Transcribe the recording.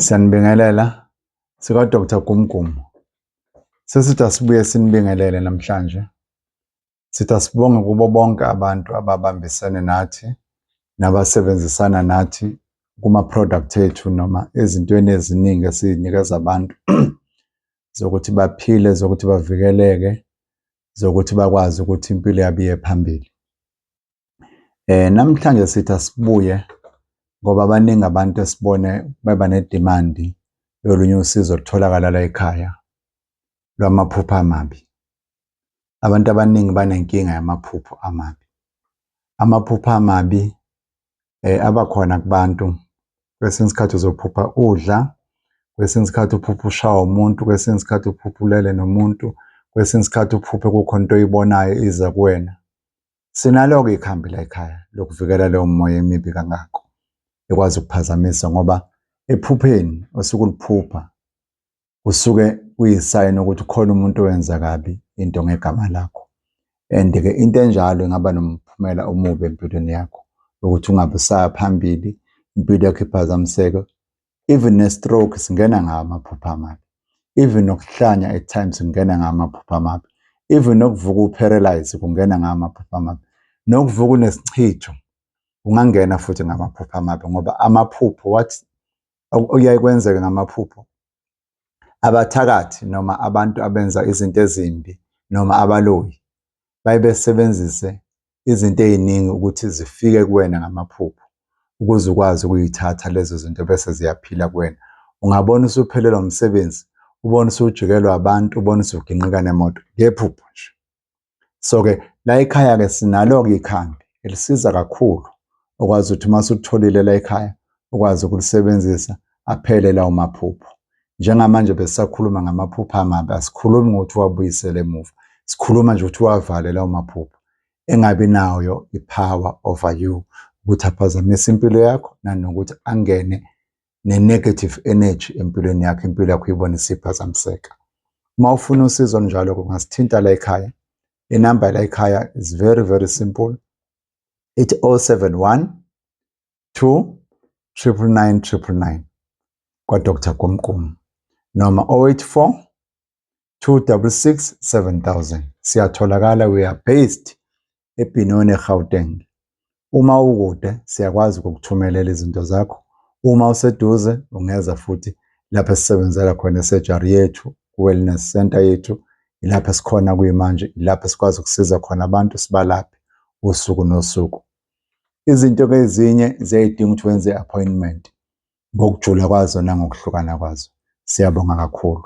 Siyanibingelela sika Dr. Gumgumu. Sesithi asibuye sinibingelele namhlanje. Sithi asibonge kubo bonke abantu ababambisene nathi nabasebenzisana nathi kuma-product ethu noma ezintweni eziningi esizinikeza abantu zokuthi baphile, zokuthi bavikeleke, zokuthi bakwazi ukuthi impilo yabo iye phambili. Eh namhlanje sithi asibuye ngoba baningi abantu esibone beba ne-demand yolunye usizo olutholakala la ekhaya lwamaphupho amabi. Abantu abaningi banenkinga yamaphupho amabi. Amaphupho amabi eh abakhona kubantu kwesinye isikhathi uzophupha udla kwesinye isikhathi uphupha ushawa umuntu kwesinye isikhathi uphupha ulele nomuntu kwesinye isikhathi uphuphe kukhona into oyibonayo iza kuwena Sinalo-ke ikhambi la ekhaya lokuvikela leyo moya emibi kangako ekwazi ukuphazamisa ngoba ephupheni osuke uliphupha kusuke kuyisayini ukuthi khona umuntu owenza kabi into ngegama lakho and-ke into enjalo ingaba nomphumela omubi empilweni yakho ukuthi ungabe usaya phambili impilo yakho iphazamiseke even ne stroke singena ngawo amaphupho amabi even nokuhlanya at times kungena ngawo amaphupho amabi even nokuvuka uparalyze kungena ngawo amaphupho amabi nokuvuka unesichitho ungangena futhi ngamaphupho amabi ngoba amaphupho wathi okuyaye kwenzeke ngamaphupho Abathakathi noma abantu abenza izinto ezimbi noma abaloyi baye besebenzise izinto ey'ningi ukuthi zifike kuwena ngamaphupho ukuze ukwazi ukuyithatha lezo zinto bese ziyaphila kuwena. Ungabona usuphelelwa umsebenzi, ubone usujikelwa abantu, ubone usuginqika nemoto ngephupho nje. so ke la ekhaya ke sinalo ke ikhambi elisiza kakhulu okwazi ukuthi uma sutholile la ekhaya ukwazi ukulisebenzisa aphele lawo maphupho njengamanje besisakhuluma ngamaphupho amabi asikhulumi ngokuthi wabuyisele emuva sikhuluma nje ukuthi wavale lawo maphupho engabi nayo i-power over you ukuthi aphazamise impilo yakho nanokuthi angene ne-negative energy empilweni yakho, impilo yakho uyibone isiphazamiseka. Uma ufuna usizo njalo kungasithinta la ekhaya. Inamba la ekhaya is very very simple. Ithi 071 2 triple nine triple nine kwaDr Gumgum noma 084 266 7000. Siyatholakala, we are based eBenoni eGauteng. Uma ukude siyakwazi ukukuthumelela izinto zakho. Uma useduze ungeza futhi lapho esisebenzela khona esurgery yethu, ku-wellness center yethu, ilapho esikhona kuyimanje, ilapho esikwazi ukusiza khona abantu sibalaphe usuku nosuku. Izinto ke ezinye ziyayidinga ukuthi wenze i-appointment ngokujula kwazo nangokuhlukana kwazo. Siyabonga kakhulu.